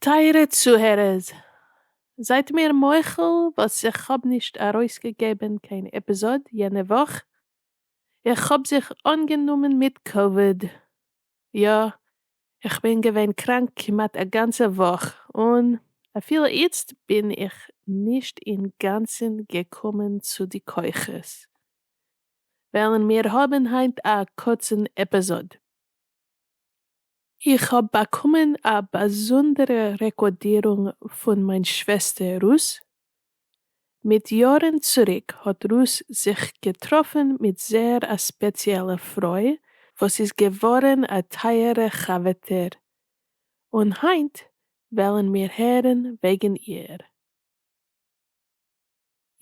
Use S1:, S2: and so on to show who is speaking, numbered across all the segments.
S1: טייערע צוהערערס, זייט מיר מוחל וואס איך האב נישט ארויסגעגעבן קיין עפיזאד יענע וואך, איך האב זיך אנגענומען מיט קאוויד. יא, איך בין געווען קראנק כמעט א גאנצע וואך, און אפילו איצט בין איך נישט אינגאנצן געקומען צו די כוחות, וועלן מיר האבן היינט א קורצן עפיזאד. איך האב באקומען א באזונדערע רעקארדירונג פון מיין שוועסטער רות, מיט יארן צוריק האט רות זיך געטראפן מיט זייער א ספעציעלע פרוי וואס איז געווארן א טייערע חבר'טער, און היינט וועלן מיר הערן וועגן איר.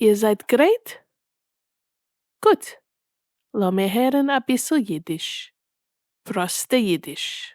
S1: איר זייט גרייט? גוט, לאמיר הערן אביסל אידיש, פראסטע אידיש.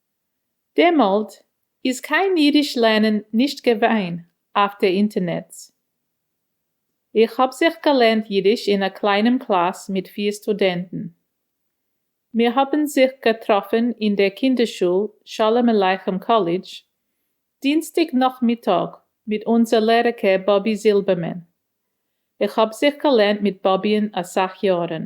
S2: דעמאלט איז קיין אידיש לערנען נישט געווען אויף די אינטערנעץ. איך האב זיך געלערנט אידיש אין א קליינעם קלאס מיט פיר סטודענטן. מיר האבן זיך געטראפן אין דער קינדערשול שלום עליכם קאלידזש, דינסטאג נאכמיטאג מיט אונזער לערערקע באבי זילבערמען. איך האב זיך געלערנט מיט באבי'ן אסאך יארן.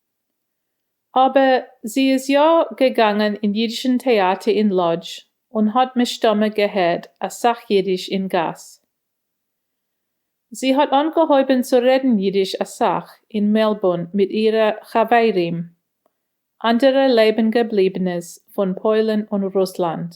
S2: אבער זי איז יא געגאנגען אין אידישן טעאטער אין לאדזש און האט מסתמא געהערט אסאך אידיש אין גאס. זי האט אנגעהויבן צו רעדן אידיש אסאך אין מעלבורן מיט אירע חברים, אנדערע לעבן געבליבנעס פון פוילן און רוסלאנד.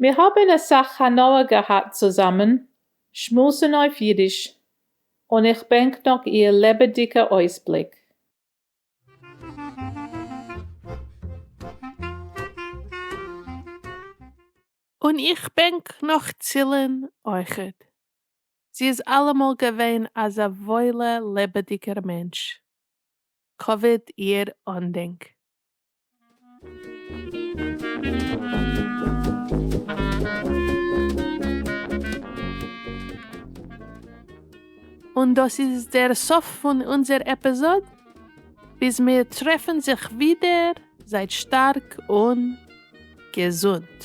S2: מיר האבן אסאך הנאה געהאט צוזאמען שמועסן אויף אידיש, און איך בענק נאך איר לעבעדיגע אויסבליק.
S1: און איך בענק נאך צילען אויכעט, זי איז אלעמאל געווען אזא וואוילע לעבעדיגער מענטש, כבוד איר אנדענק. און דאס איז דער סוף פון אונזער עפיזאד, ביז מיר טרעפן זיך ווידער זייט שטארק און געזונט.